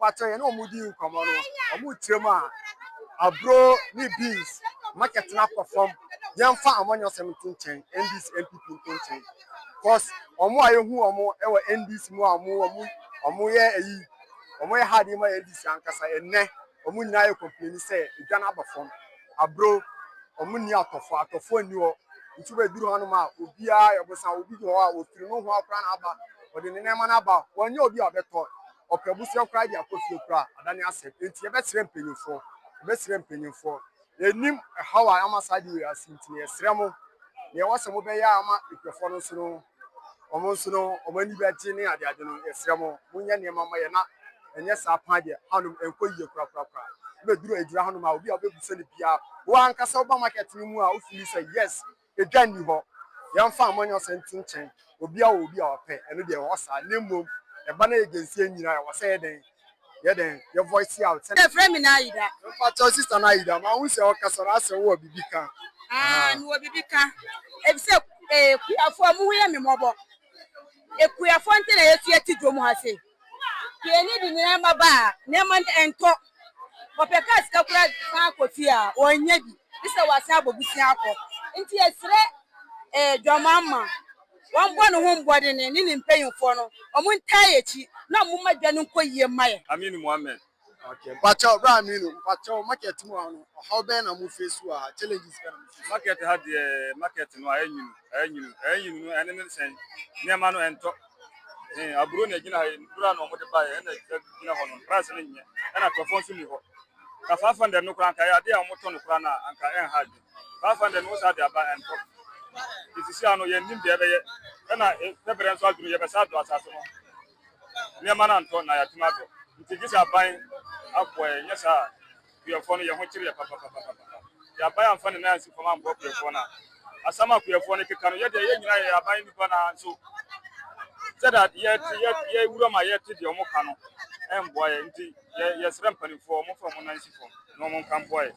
Mpakyɛw yɛne ɔmo di nkɔmɔ no ɔmo kyerɛ mu a aburo ne beans market no akɔ fam yɛnfa amanyɔsɛm nto nkyɛn NDC NPP nto nkyɛn cos ɔmo a yɛhu ɔmo wɔ NDC mu a ɔmo ɔmo ɔmo yɛ ayi ɔmo yɛ hard ma NDC ankasa ɛnɛ ɔmo nyinaa yɛ complain sɛ edwa no aba fam aburo ɔmo nni atɔfo atɔfo nni hɔ nti bɛduru hanom a obiara yɛ bosan obi wɔ hɔ a ofiri no ho akora na aba ɔde ne nneɛma no aba wɔnyɛ obi a ɔbɛtɔ ɔpɛ abusua koraa de akɔ fie koraa a, adane asɛm. Enti yɛbɛsrɛ mpanyimfoɔ. Yɛbɛsrɛ mpanyimfoɔ. Yɛnim ɛhaw a ama saa ade wei asi nti no, yɛsrɛ mo, nea ɛwɔ sɛ mobɛyɛ a ama nkurɔfoɔ no nso no, wɔn nso no, wɔn ani bɛgye ne adeade no, yɛsrɛ mo, monyɛ nneɛma mma yɛn na ɛnyɛ saa paa deɛ, hanom ɛnkɔ yie korakorakora. Ɛbɛduru adwira hanom a, obi a wobɛbisa no biara, wo ara ankasa woba market no mu a, wofili sɛ, yes, Edwa nni hɔ. Yɛmfa amanyɔsɛm nto nkyɛn. Obiara wɔ obi a ɔpɛ. Ɛno deɛ ɛwɔ saa. Na mmom, ɛba na yɛgyensi yɛn nyinaa a, ɛwɔ sɛ yɛ dɛn? Yɛ dɛn? Yɛ voice out sɛdeɛ. Yɛfrɛ me Naida. Mpakyɛw sister Naida, mahu sɛ ɔkasa no asɛ wowɔ biribi ka. Aah, mewɔ biribi ka. Efisɛ Kuyafoɔ, mo ho yɛ me mmɔbɔ. Kuyafoɔ nti na yɛafi ati dwom ha sei. Piani de nyinaa ma ba a, nneɛma no ɛntɔ. Ɔpɛ kaa sika koraa de san akɔ fie a, ɔnnya bi, gye sɛ wasan abɔ bosea akɔ. Enti yɛsrɛ Dwamamma, wɔmmɔ ne ho mmɔdene ne ne mpanyimfoɔ no, wɔntaa yɛn akyi na wɔmma dwa no nkɔ yie mma yɛn. Ameen mu amen. Mpakyɛw bra me no mpakyɛw market mu ha no ɔhaw bɛn na mo face wɔ ha challenges bɛn na mo face. Market ha deɛ market no ayɛ nwunu ayɛ nwunu ayɛ nwunu no ɛne ne nsɛn nneɛma no ɛntɔ ɛn aburo na ɛgyina ha yi aburo na wɔde ba yɛ ɛna ɛgyina hɔ no price no nyɛ ɛna tɔfɔ nso ni hɔ ka five hundred no koraa nka ɛyɛ adeɛ a wɔn tɔ no koraa na anka ɛn ha adwi five hundred no wɔsa de aba ɛntɔ esisi ano yɛn nim deɛ ɛbɛyɛ ɛna pɛbrɛ nso adwuma yɛbɛsa do asase no. Nneɛma no antɔ na yɛatim adɔ. Nti gye sɛ aban aboa yɛn, nyɛ saa a kuyɛfoɔ no yɛn ho kyere yɛ papapapapapa. Deɛ aban amfa ne nan ansi fam amboa kuyɛfoɔ no a, asɛm a kuyɛfoɔ no keka no, yɛ deɛ yɛn nyinaa yɛyɛ aban nnipa no ara nso sɛdeɛ yɛte, yɛ, yɛn wuram a yɛte deɛ wɔka no ɛmboa yɛn. Nti yɛ, yɛsrɛ mpaninfoɔ wɔmfa wɔn nan nsi fam na wɔnka mboa yɛn.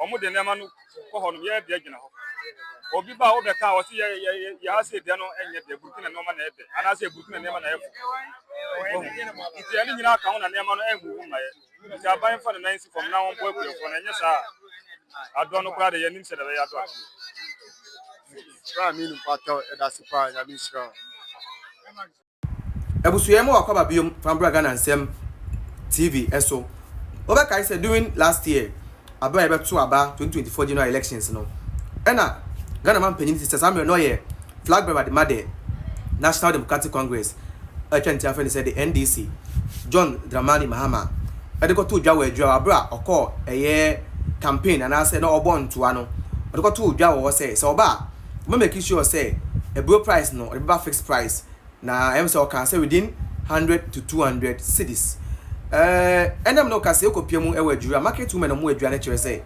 wɔn de nneɛma no kɔ hɔ nom yɛyɛ deɛ gyina hɔ obi ba a wɔbɛ ka a wɔsi yɛ yɛ yɛ yɛ ase deɛ no ɛnyɛ deɛ burukina nneɛma na ɛbɛ anaasɛ burukina nneɛma na ɛfo nti ɛne nyinaa ka ho na nneɛma no ɛnhuhu ma yɛ nti aban fa ne nan si fam na wɔn bɔ akuafoɔ na ɛnyɛ saa adɔ no koraa de yɛn nim sɛ dɛbɛ yɛ adɔ ati. Sra mi no mpatɔ ɛda se paa nyame nhyira wo. Abusua yi ma wakwaba biom fa mbra Ghana nsɛm TV ɛso. Wobɛkae sɛ during last year aberɛ a yɛbɛto aba 2024 general elections no ɛna Ghana man panyin sista saa mmerɛ no ɔyɛ flag bearer de ma the National Democratic Congress a yɛtwa ne ti afrɛ no sɛ the NDC John Dramani Mahama ɛde kɔtoo dwa wɔ adwira hɔ aberɛ a ɔkɔɔ ɛyɛ campaign anaasɛ na ɔbɔ ntoa no ɔde kɔtoo dwa wɔ hɔ sɛ sɛ ɔba a ma make sure sɛ aburo price no ɔde bɛba fixed price na ɛm sɛ ɔkaa sɛ within hundred to two hundred cedis ɛɛ ɛnam no ka sɛ ekɔ pia mu ɛwɔ aduru a market women ɔmo adua no kyerɛ sɛ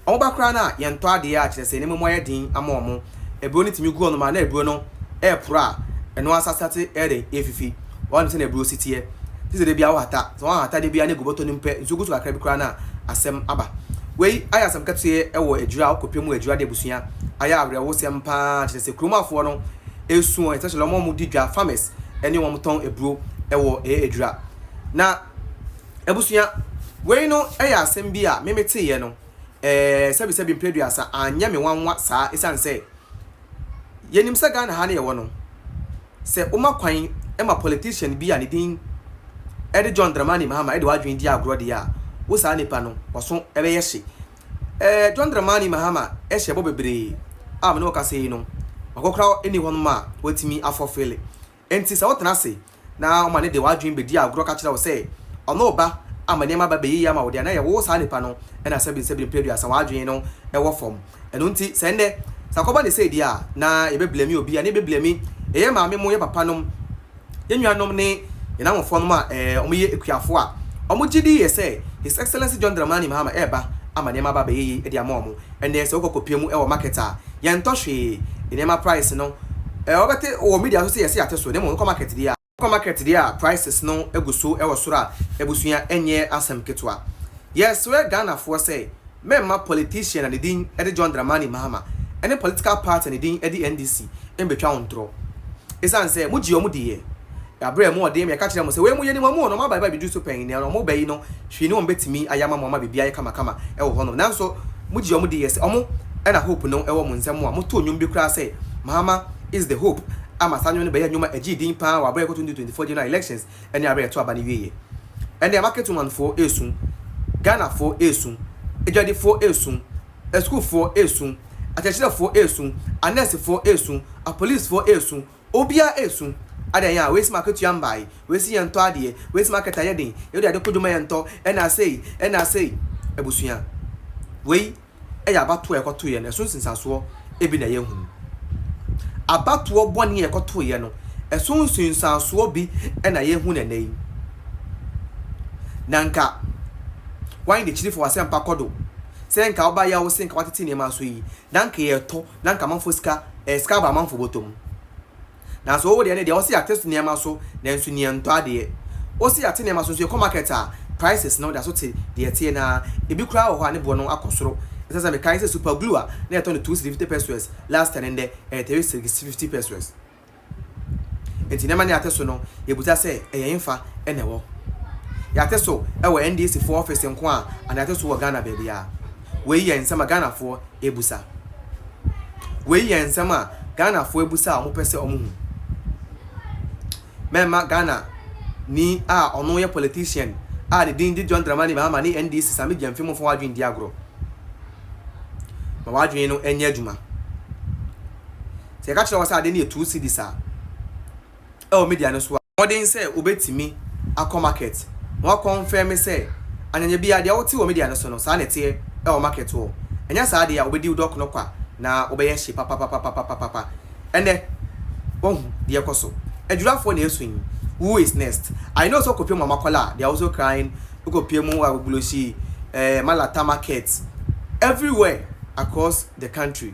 ɔmo ba koraa no a yɛn tɔ adeɛ a kyerɛ sɛ nneɛma mu ayɛ den ama ɔmo aburo no tumi gu hɔ nom a na aburo no ɛɛporo a ɛno asasate ɛɛdɛn eefifi. Wahu sɛnea aburow si teɛ. Te sɛ da biara wohata. Sɛ woanhata da biara na egu bɔtɔ no mu pɛ, nsuo gu so kakra bi koraa na asɛm aba. Wei ayɛ asɛm ketewa wɔ adwira a wokɔ pɛ mu adwira de abusua. Ayɛ awerɛhosɛm pa ara. Kyerɛ sɛ kurom afoɔ no esu wɔn especially wɔn a wɔdi dwa, farmers, ne wɔn a wɔtɔn aburo wɔ ɛyɛ adwira. Na abusua, wei no yɛ asɛm bi a me meteeɛ no, ɛɛ, sɛbisɛbi mprɛ aduasa anyɛ me nwanwa saa esiane sɛ, Yɛnim sɛ Ghana ha no yɛwɔ no, sɛ woma kwan ma politician bi a ne din de John Dramani Mahama de w'adwene di agorɔ deɛ a, wo saa nipa no, w'aso bɛyɛ hye. Ɛɛ John Dramani Mahama hyɛ bɔ bebree a me ne wo kasa yi no, wakɔkora nni hɔnom a watumi afɔfele. Enti sɛ wotena ase na ɔma no de w'adwene bedi agorɔ ka kyerɛ wo sɛ ɔno reba ama nneɛma aba bɛyɛ yie ama wo deɛ, na ɛyɛ wo saa nipa no na sɛbinsɛbin mprɛ aduasa w'adwene no wɔ fam. Ɛno nti sɛ nnɛ, sɛ akɔba no sei deɛ a, na yɛbɛblame obi anaa yɛbɛblame yɛn maame nom, yɛn papa nom, yɛn nuanom ne yɛn awofoɔ nom a wɔyɛ akuafoɔ a wɔgye di yɛ sɛ His Excellency John Dramani Mahama reba ama nneɛma aba bɛyɛ yie de ama wɔn. Ɛnneɛ sɛ wokɔ kɔpia mu wɔ market a, yɛntɔ hwee. Nneɛma price no, eh, wobɛte wɔ media so sɛ yɛse yɛate so, na mmom wokɔ market deɛ a, wokɔ market deɛ a prices no gu so wɔ soro a, abusua ɛnyɛ asɛm ketewa. Yɛsrɛ Ghanafoɔ sɛ mɛmma politician a ne din de John Dramani Mahama ne political party a ne din de NDC mmɛtwa wo ntorɔ. Ɛsiane sɛ mogye wɔn diiɛ. Yɛabrɛ mo ɔden ma yɛka kyerɛɛ mo sɛ wei moyɛ nim wɔn o, na wɔabaebae bɛduru so pɛn, nea wɔrebɛyi no Hwee ne wɔn betumi ayɛ ama mo ama biribiara ayɛ kamakama wɔ hɔnom. Nanso mo gye wɔn di yɛ sɛ wɔn na hope no wɔ mo nsam a mo too nnwom bi koraa sɛ Mahama is the hope ama saa nnwom no bɛyɛ nnwom a ɛgyee din paa wɔ abere a ɛkɔ 2024 General Elections ne abere a ɛto aba no wieɛ. Ɛnɛ Marketwomanfoɔ resu, Ghanafoɔ resu, adwadifoɔ resu, asukuufoɔ resu, akyerɛkyerɛfoɔ resu, anɛɛsefoɔ resu, apolicefoɔ resu, Obia esu, Adɛn a, wei se m'akatua mbae, wei se yɛntɔ adeɛ, wei se market ayɛ den, yɛde ade kojo ma yɛntɔ, ɛna sei, ɛna sei. Abusua, wei yɛ abatoɔ a ɛkɔtoeɛ no, ɛso nsunsuansoɔ bi na yɛhunu. Abatoɔ bɔne a ɛkɔtoeɛ no, ɛso nsunsuansoɔ bi na yɛhunu ɛnnɛ yi. Na nka w'ayi n'akyiri fa w'asɛmpa kɔdo, sɛ nka wobaeɛ a wose nka woatete nneɛma so yi, na nka yɛtɔ, na nka amanfoɔ sika ɛyɛ sika aba amanfoɔ bɔtɔ mu. Nanso wo wodeɛ ne deɛ ɔse yɛate nneɛma so nanso ni ɛntɔ adeɛ. Wose yɛate nneɛma so nso yɛkɔ market a prices no da so te deɛ ɛteɛ no ara. Ebi koraa wɔ hɔ a ne boɔ no akɔ soro. Ɛsɛ sɛ mekae sɛ super glue a na yɛtɔ no two cedi fifty pesewas last year no ndɛ ɛyɛ three cedi fifty pesewas. Enti nneɛma no yɛate so no, yɛbisa sɛ, ɛyɛ hefa na ɛwɔ? Yɛate so wɔ NDC foɔ ɔfese nko a anaa yɛate so wɔ Ghana baabiara? Wei yɛ nsɛm a Ghanafoɔ ɛbusa. Wei yɛ nsɛm a Ghanafoɔ ɛbusa a wɔpɛ sɛ wɔhu. Mɛmma Ghana ni a ɔno yɛ politician a ne din de John Dramani Mahama ne NDC Sammy Gyamfi mmfa w'adwene ndi agorɔ. Ma w'adwene no nyɛ adwuma. Sɛ yɛka kyerɛ wɔn sɛ ade no yɛ two cedis a, ɛwɔ media no so a. Mmɔden sɛ wobɛtumi akɔ market na wɔakɔnfɛme sɛ anyanya biara deɛ wote wɔ media no so no, saa na ɛteɛ wɔ market hɔ. Anyɛ saa deɛ a, wobɛdi wo dɔk no kwa na wobɛyɛ hye papapapapapapapa. Ɛnnɛ, woahu deɛ ɛrekɔ so. Adwirafoɔ na ɛresu yi, who is next? I know sɛ wokɔpie mu Amakola a, they are also crying, wokɔpie mu Agbogbloshie, eh, Malata market, everywhere across the country.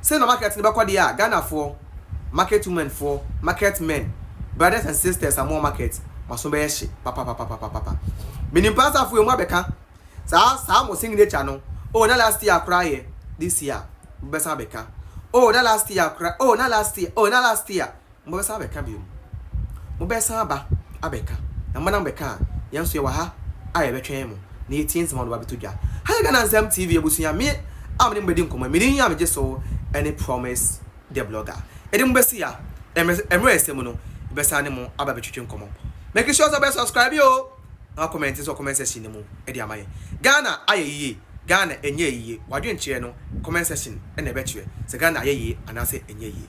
Sei na market no bɛkɔ deɛ a Ghanafoɔ market women foɔ market men brothers and sisters a mowɔ market mo aso bɛyɛ hye papapapapapa menim paa sɛ afei ɔmo abɛka saa saa mo signature no oh na last year koraa yɛ this year mobɛsan abɛka oh na last year koraa oh na last year oh na last year Mobɛsan abɛka bio mu. Mobɛsan aba abɛka. Na mo na mobɛka a, yɛn nso yɛwɔ ha a yɛbɛtwɛn mo, na yɛatie nsɛm a mode ba abɛto dwa. Ha yɛ Ghana Nsɛm TV abusua. Me a me ne mo bɛdi nkɔmmɔ yi, me din a megye so ne Promise The Blogger. Yɛde mo bɛsi ha. Mmerɛ a ɛsɛ mu no, yɛbɛsan ne mo aba abɛtwetwe nkɔmmɔ. Make sure sɛ wobɛ subscribe o, na woakɔmɛnte nso wɔ comment section no mu de ama yɛn. Ghana ayɛ yie, Ghana ɛnyɛɛ yie, w'adwenkyerɛ no, comment section na ɛbɛkyerɛ sɛ Ghana ayɛ yie anaasɛ ɛnyɛɛ yie.